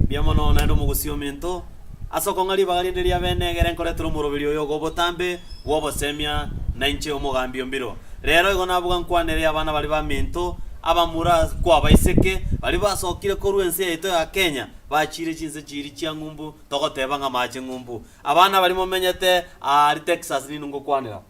Mbuya mono naende omogusii ominto, ase okong'a ribaga rinde ria bene egere nkoretera omoroberi oyo ogo obotambe bw'obosemia, na inche omogambi o mbiro. Rero igo nabuga nkwanere abana baria baminto, abamura kwabaiseke, baria basokire korwa ense yaito ya Kenya, bachiire chinse chiiri chia ng'umbu, togoteba ng'a maache ng'umbu. Abana baria momenyete aa aria Texas ninwe ngokwanera.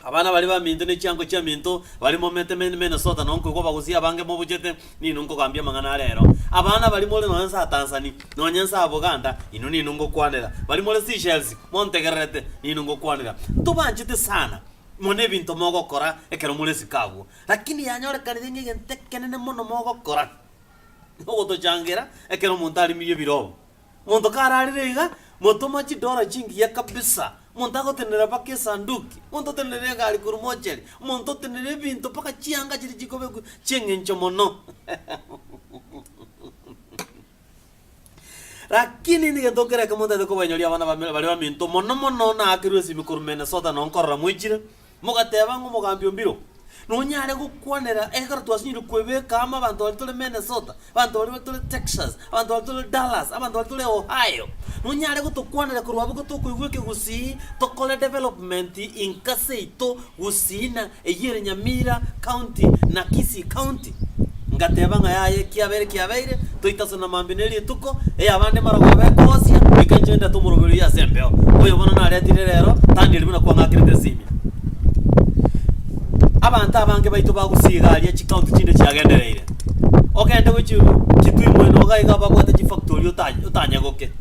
Abana baria baminto ne chiango chiaminto baria momete me Minnesota nao nkoigwa bagosia abange mobuchete, ninwe nkogambia amang'ana are ero. Abana baria more nonya nsa Tansani, nonya nsa Buganda, inwe ninwe ngokwanera. Baria more Seychelles, montegererete, ninwe ngokwanera. Ntobanchete sana, mono ebinto mogokora ekero more esiko agwo. Lakini yanyorekanire ng'egento ekenene mono mogokora, nogotochangira ekero omonto arimirie ebirobu. Monto kararire iga, motoma chidora chingiya kabisa, monto agotenena mpaka esanduki, monto otenenere egari korwa mochari, monto otenenere ebinto mpaka chianga chiria chikobekwa chi'eng'encho mono. Lakini nigo egento kera ekemo ntaete kobainyoria abana bamire baria baminto mono mono naakerwe esimi korwa Minnesota nonkorora moichire, Mogateba ng'a omogambi o mbiro nonyare gokwanera ekero twasinyorire kwebeka amo abanto baria tore Minnesota, abanto baria batore Texas, abanto baria tore Dallas, abanto baria tore Ohio, nonyare gotokwanera korwa abwo gotokoigwa eke gusii tokore development inkase yaito gusii na eyio ere Nyamira county na Kisii county. Ngateba ng'a yaya ekiabere kiabeire, toitaso na mambia ne rituko, ey'abande marogo abe ekogosia, goika inche ndete omoroberi oyio ase embeo. Oyo bono naretire rero, tang'eriri buna kwang'akerete ase ime. Abanto abange baito bagusii iga aria chikaunti chinde chiagendereire. Ogende gwe chi- Kitui moino iga iga babwate chifactory ota- otanyegoke.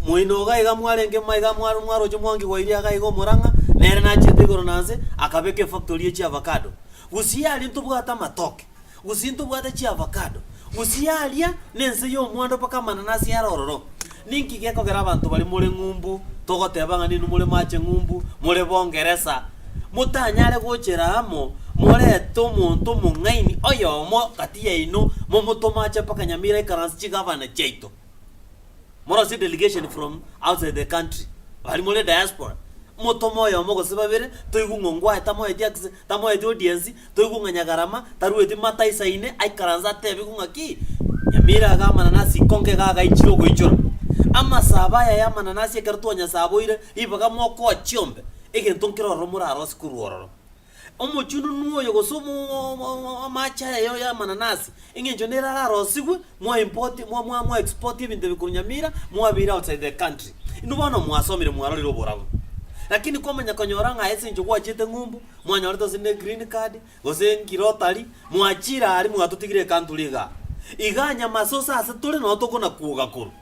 Moino iga iga mwarenge ma iga mwa- mwaroche mwangi gwa iria iga iga omorang'a, nere nachete igoro na nse, akabeka efactory ya chiavacado. Gose aria ntobwate amatoke, gose ntobwate chiavakado, gose aria nense y'omwando mpaka amanene ase yare ororo. Ninki gekogera abanto baria more ng'umbu, togoteba ng'a ninwe more mache ng'umbu, more bongeresa, motanyare gochera amo morete omonto omong'aini oyomo gati yaino, momotome ache mpaka nyamira ikaranse chigavana chiaito? Morosire delegation from outside the country, bari more diaspora, motome oyomo gose babere, toigwe ng'a ongwae tamoeti access, tamoeti audience, toigwe ng'a Nyagarama tarueti mata isa ine, aikaranse atebigwe ng'a ki, Nyamira iga amananasi ikonga iga agaichire ogoichora. Amasabo aya y'amananasi ekero twanyasaboire, ribaga mokoa chiombe, egento nkere ororo morarose korwa ororo. Omochununu oyo gose omong'ong'o amache aya yaoyo y'amananasi, engencho nere ararosigwe, mwa import, mwa mwa mwa export ebinto ebi korwa Nyamira, mwabeire outside the country. Inwe bono mwasomire mwarorire oborabu. Lakini komanya konyora ng'a ase encho gwachiete ng'umbu, mwanyorete gose ne green card, gose nki rotary, mwachire aria mwatotigire ecountry igaa. Igaa nyamase ose ase tore noo tokona kwoga korwa.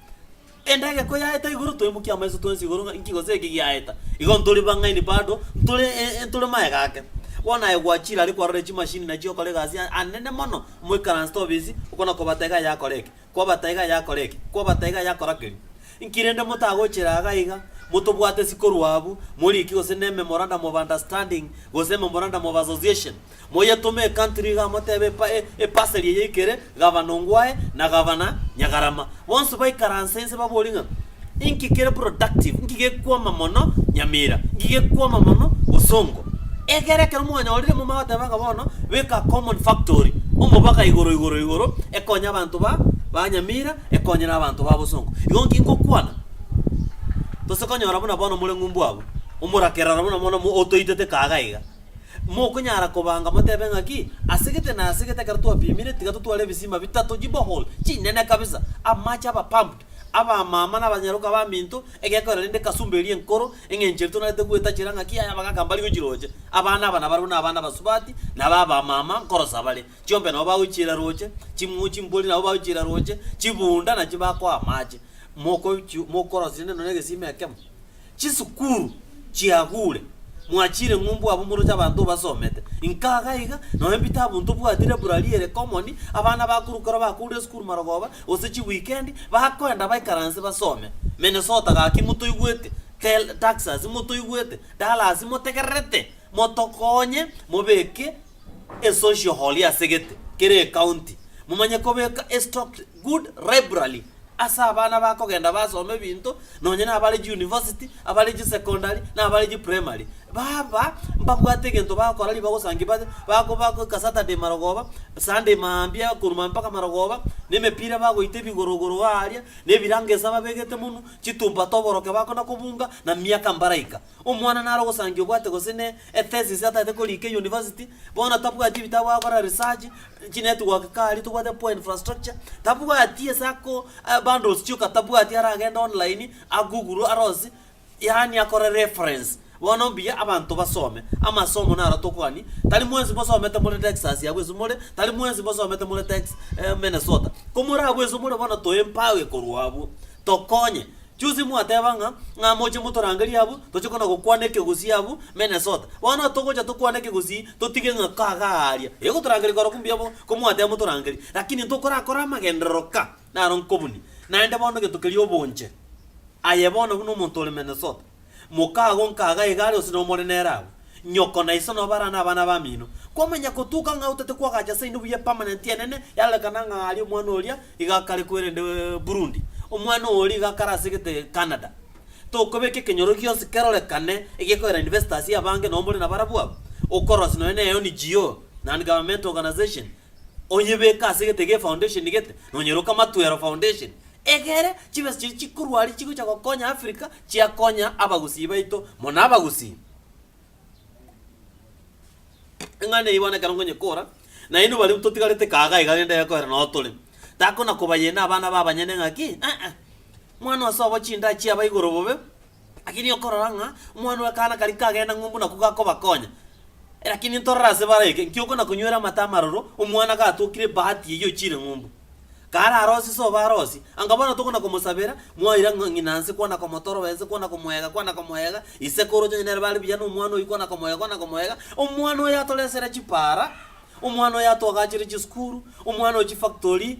Endagera koyaeta igoro toimokie amaiso twensi igoro ng'a inki gose eki giaeta. Igo ntori bang'aini bado, ntore ntore maega ake. Bono aye gwachire are kwarorire chimashini nachio okore egasi anene mono moikaranse tobisi okwo na kobata iga yakora eke, kwabata iga yakora eke, kwabata iga yakora keria. Inki rende motagochera iga iga, motobwate isi korwa abwo, morikie gose ne memorandum of understanding gose memorandum of association. Moyetome ekantri iga motebe epa e epasari eye ikere Gavana Ongwae na Gavana Nyagarama. Bonsi baikaranse inse baborie ng'a, Inki kere productive? Inki gekwama mono Nyamira? Inki gekwama mono Bosongo? Egere ekero mwanyorire momanye goteba ng'a bono beka common factory omobaka igoro igoro igoro ekonye abanto ba ba Nyamira ekonye na abanto ba Bosongo. Igo inki ngokwana? Tose konyora buna bono more ng'umbu abwo, omorakerero buna bono mo otoitete kaga iga. Mokonyara kobanga motebe ng'a ki? Ase gete na ase gete ekero twapimire, tiga totware ebisima bitato, chiborehole, chinene kabisa, amache aba pumped, abamama na abanyaroka baminto, egekorera rende ekasumba eria enkoro, eng'encho eria tonarete gwetachera ng'a ki aya abagaka mbari gochiroche. Abana aba nabarabwo na abana abasubati, na aba abamama nkorosa bare. Chiombe nabo bagochiira roche, chimng'u chimbori nabo bagochiira roche, chibunda nachi bakoa amache. Mokochi mokorosia rende nonya egesima ekemo. Chisukuru chiagure, mwachire ng'umbu abwo moroche abanto obasomete. Inka iga iga, nonya ebitabu ntobwati library ere common, abana bakorwa ekero bakourire esukuru marogoba, gose chiweekend, bakoenda baikare inse basome. Minnesota gaki motoigwete, Tel, Taxas motoigwete, Dallas motegererete motokonye mobeke esocial hall asegete kera ecounty, momanye kobeka estock, Good library ase abana bakogenda basoma ebinto nonye nabare chiuniversity, abare chisecondary, nabare chiprimary. Baba mbabwate egento bagokora ribaga osange babe bakoba goika Saturday marogoba, Sunday maambia korwa maambia mpaka marogoba, na emepira bagoita ebigorogoro aaria, na ebirango ase ababegete monwe, chitumpato oboroke bakona kobunga, na miaka mbaraika. Omwana nare ogosangia obwate gose ne e thesis atagete koriika e university, bono tabwati ebitabu agokora research, chi network karia tobwate poor infrastructure, tabwati ase ako bundles chioka tabwati aragende online a google arose yaani akore reference bono mbuya abanto basome. Amasomo naro tokogani tari mwensi mosomete more Texas abwo ase more, tari mwensi mosomete more Tex Minnesota. Komorabwo ase more bono toe embago ekorwa abwo, tokonye Chionsi mwateba ng'a, Ng'a moche motorangerie abwo, toche kona gokwana ekegusii abwo Minnesota. Bono togocha tokwane ekegusii, totige ng'a kaga aaria. Ee gotorangeria korokwo mbuya bo, ko mwateba motorangerie. Lakini ntokorakore amagenderero ka, naro nkobunie. Naende bono gento keria obonche aye bono buna omonto ore Minnesota. Moka agwo nkaga egari ose nomore nere agwo. Nyoko na iso nobo arane abana bamino. Kwamanya gotuka ng'a otete kwagacha ase inde buya permanent enene yarorekana ng'a aria omwana oria iga akare kwerende Burundi. Omwana oyo oria iga akare asegete Canada. Tokobeka ekenyoro gionsi kerorekane egekoera investors abange nobo more nabarabwo abo. Okorosi nonya ne NGO, non governmental organization, onyebeke asegete ge foundation gete nonyeroka Matwero foundation egere chibesa chiria chikorwa aria chigocha gokonya Africa chia konya abagusii baito, mono abagusii. Ing'ana eyio bono ekero nkonye kora, nainwe baria totigarete kaaga iga rende ekoera noo tore, takona kobayena abana ba abanyene ng'aki, eeh, mwana ose obo chindaa chiaba igoro bobe, lakini okorora ng'a omwana w'ekaana karia kagenda ng'umbu nakwo gakobakonya. Lakini ntorore ase bare eke, nki okona konywera amato amaroro, omwana gatokire ebahati eyio ochire ng'umbu. Kararosie ase obarosie, anga bono tokona komosabera, mwaira ng'a ng'ina nse kwana komotoroba ense kwana komoega kwana komoega, isekuru onye nere bare buya nomwana oyio kwana komoega kwana komoega, omwana oyo atoresere chipara, omwana oyo atoagachere chisukuru, omwana oyo chifactory,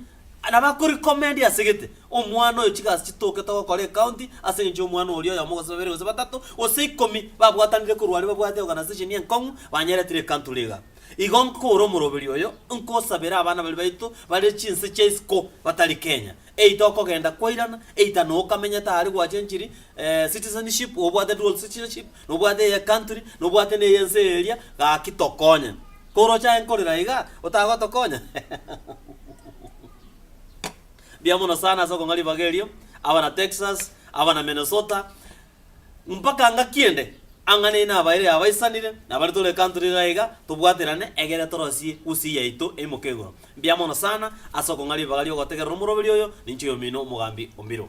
nabo akoricomendi ase gete, omwana oyo chigasi chitoke togokora ecounty ase eng'encho y'omwana oria oyomo gose babere gose batato gose ikomi babwatanire korwa aria babwate oganasesheni enkong'u banyeretire ecountury igaa. Igo nkore omoroberi oyo, nkosabere abana baria baito bare chinse chia isiko batari Kenya, eita okogenda kwairana, eita nokamenyete aria gwachenchiri, eh, citizenship, nobwate dual citizenship, nobwate eye country, nobwate neye ense eria, gaki tokonye. Koroche aye nkorera iga, otagotokonya? Mbuya mono sana ase okong'a ribaga erio, abana Texas, abana Minnesota, Mpaka ngaki ende? Ang'e neino abairi abaisanire, na bare tore ekanto riria iga, tobwaterane egere torosie gusii yaito eimoke igoro. Mbuya mono sana ase okong'a ribaga ri'ogotegerera omoroberi oyo, ninche oyomino omogambi o Mbiro.